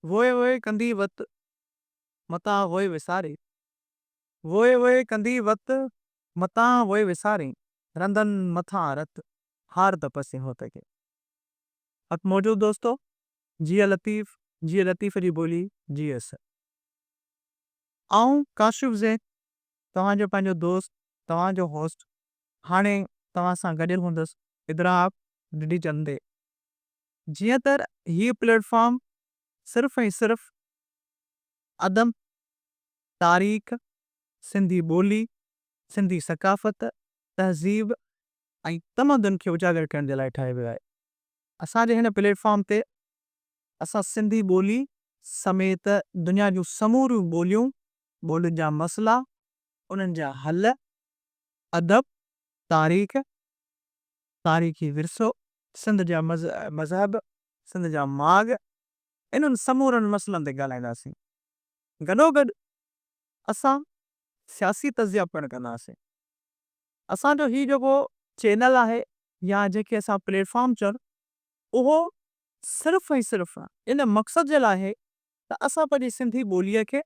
ووء ووء ڪندي وت، متان ووء وسارين. ووء ووء ڪندي وت، متان ووء وسارين. رندن مٿان رت، هار ته پسين هو ته ڪين. حق موجود دوستو، جيئي لطيف، جيئي لطيف جي ٻولي، جيئي اسد. آئون ڪاشف زين، توهان جو پنهنجو دوست، توهان جو هوسٽ، هاڻي توهان سان گڏيل هوندس ادراڪ ڊڊي چندي، جيئن ته هي پليٽ فارم صرف ۽ صرف ادب، تاريخ، سنڌي ٻولي، سنڌي ثقافت، تهذيب ۽ تمدن کي اجاگر ڪرڻ جي لاء ٺاهيو ويو آهي. اسان جي هن پليٽ فارم تي اسان سنڌي ٻولي سميت دنيا جون سموريون ٻوليون، ٻولين جا مسئلا، انهن جا حل، ادب، تاريخ، تاريخي ورثو، سنڌ جا مذهب، سنڌ جا ماڳ انهن سمورن مسئلن تي ڳالهائينداسين. گڏوگڏ اسان سياسي تجزيا پڻ ڪنداسين. اسان جو هي جيڪو چينل آهي يا جنهن کي اسان پليٽ فارم چون اهو صرف ۽ صرف ان مقصد جي لاء آهي ته اسان پنهنجي سنڌي ٻوليء کي،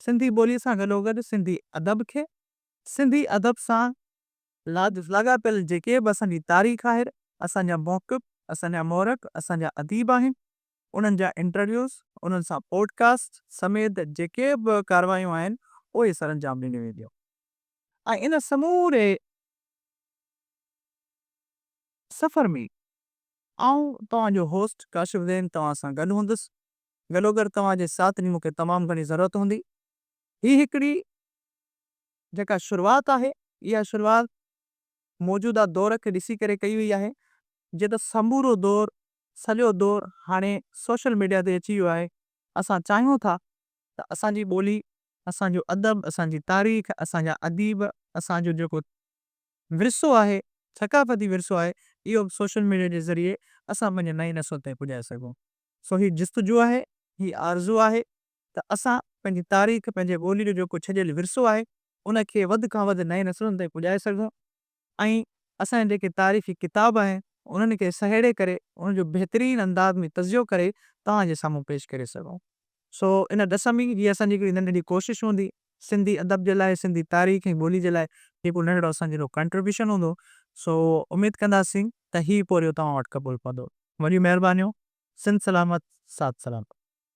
سنڌي ٻوليء سان گڏوگڏ سنڌي ادب کي، سنڌي ادب سان لادس لاڳاپيل جيڪي به اسان جي تاريخ آهي، اسان جا محقق، اسان جا مورخ، اسان جا اديب آهن، انهن جا انٽرويوز، انهن سان پوڊ ڪاسٽ سميت جيڪي به ڪارروايون آهن، اهي سرانجام ڏنيون وينديون ۽ ان سموري سفر ۾ آئون توهان جو هوسٽ ڪاشف زين توهان سان گڏ هوندس، گڏوگڏ توهان جي ساٿ جي مون کي تمام گهڻي ضرورت هوندي، هي هڪڙي. جيڪا شروعات آهي، اها شروعات موجوده دور کي ڏسي ڪري ڪئي وئي آهي، جيئن ته سمورو دور، سڄو دور هاڻي سوشل ميڊيا تي اچي ويو آهي، اسان چاهيون ٿا ته اسان جي ٻولي، اسان جو ادب، اسان جي تاريخ، اسان جا اديب، اسان جو جيڪو ورثو آهي، ثقافتي ورثو آهي، اهو به سوشل ميڊيا جي ذريعي اسان پنهنجي نئين نسل تائين پڄائي سگهون. سو هي جستجو آهي، هي آرزو آهي ته اسان پنهنجي تاريخ، پنهنجي ٻولي جو جيڪو ڇڏيل ورثو آهي، ان کي وڌ کان وڌ نئين نسلن تائين پڄائي سگهون ۽ اسان جا جيڪي تاريخي ڪتاب آهن، انهن کي سهيڙي ڪري، ان جو بهترين انداز ۾ تجزيو ڪري توهان جي سامهون پيش ڪري سگهون. سو ان ڏس ۾، هيء اسان جي هڪڙي ننڍڙي ڪوشش هوندي، سنڌي ادب جي لاء، سنڌي تاريخ ۽ ٻولي جي لاء جيڪو ننڍڙو اسان جو ڪنٽريبيوشن هوندو، سو اميد ڪنداسين ته هي پورهيو توهان وٽ قبول پوندو. وڏيون مهربانيون. سنڌ سلامت، ساٿ سلامت.